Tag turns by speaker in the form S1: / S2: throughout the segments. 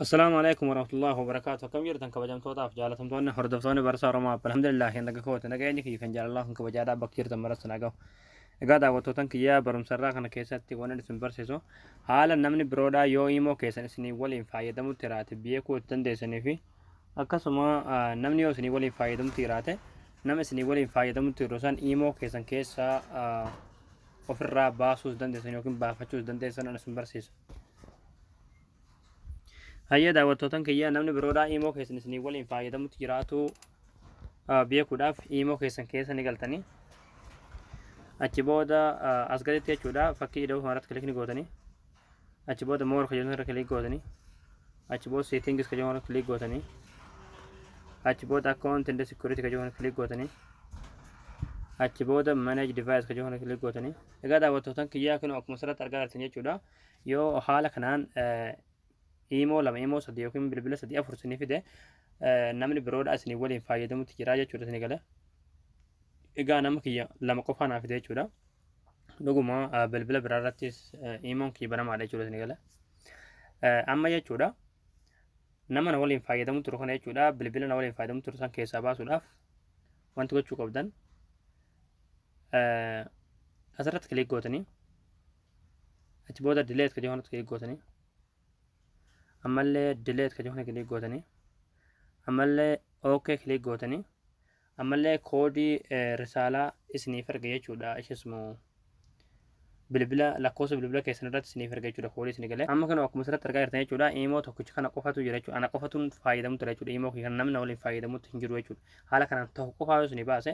S1: Assalaamu alaikum warahmatullahi wabarakaatu akkam jirtan kabajamtootaaf jaalatamtoonni hordoftoonni barsaa Oromoo App alhamdulillah hin naga kooti nageenyi kiyya kan jaalalaa kan kabajaadhaa bakka jirtan maratti na gahu egaa daawwattootan kiyyaa barumsarraa kana keessatti waan isin barsiisu haala namni biroodhaa yoo imoo keessan isinii waliin fayyadamutti jiraate beekuu itti dandeessanii fi akkasuma ah, namni yoo isinii waliin fayyadamutti jiraate nama isinii waliin fayyadamutti jiru san imoo keessan keessaa ah, ofirraa baasuus dandeessan yookiin baafachuus dandeessan an isin barsiisu Hayyee daawwattootan kiyyaa namni biroodhaa iimoo keessan isinii waliin fayyadamutti jiraatuu beekuudhaaf iimoo keessan keessa ni galtanii achi booda as gaditti jechuudha fakkii ida'uu kanarratti kilikni gootanii achi booda moor kajoon irra kilik gootanii achi booda seetingis kajoon irra kilik gootanii achi booda akkaawunti inda sikuriiti kajoon irra kilik gootanii achi booda manage device kajoon irra kilik gootanii egaa daawwattootan kiyyaa kinoo akkuma asirratti argaa jirtan jechuudha Yoo haala kanaan iimoo lama iimoo sadii yookiin bilbila sadii afur isinii fide namni biroodha isinii waliin fayyadamutti jira jechuudha isinii gale. Egaa nama kiyya lama qofaa naa fide jechuudha. Dhuguma bilbila biraa irrattis iimoon kiyya banamaadha jechuudha isinii gale. Amma jechuudha nama na waliin fayyadamu turu kana jechuudha bilbila na waliin fayyadamu turu san keessaa baasuudhaaf wanti gochuu qabdan asirratti kilik gootanii achi booda dileet ka jechuun kiliik gootanii ammallee dileet ka jechuun kiliik gootanii ammallee ok kiliik gootanii ammallee koodii risaalaa isiniif erga jechuudha ishismu bilbila lakkoofsa bilbila keessan irratti isiniif erga jechuudha koodii isinii galee amma kana akkuma asirratti argaa jirtan jechuudha imoo tokkicha kana qofatu jira jechuudha ana qofatuun fayyadamu ture jechuudha imoo kana namni waliin fayyadamutti hin jiru jechuudha haala kanaan tokko qofaa yoo isinii baase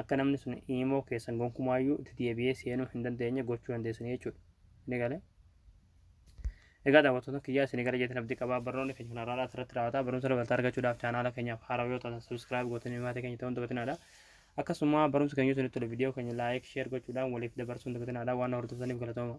S1: akka namni sun imo keessan gonkumaayyuu itti deebi'ee seenuu hin dandeenye gochuu dandeessanii jechuudha. Ni gale. Egaa daawwattoota kiyyaa isin gara jeetiin abdii qabaa barnoonni keenya kun har'aadhaas irratti raawwata. Barumsa dabalataa argachuudhaaf chaanaala keenyaaf haarawa yoo taatan subscribe gootanii maatii keenya ta'uun dabatinaadha. Akkasuma barumsi keenya yoo isinitti tole viidiyoo keenya like, share gochuudhaan waliif dabarsuun dabatinaadha. Waan hordoftaniif galatooma.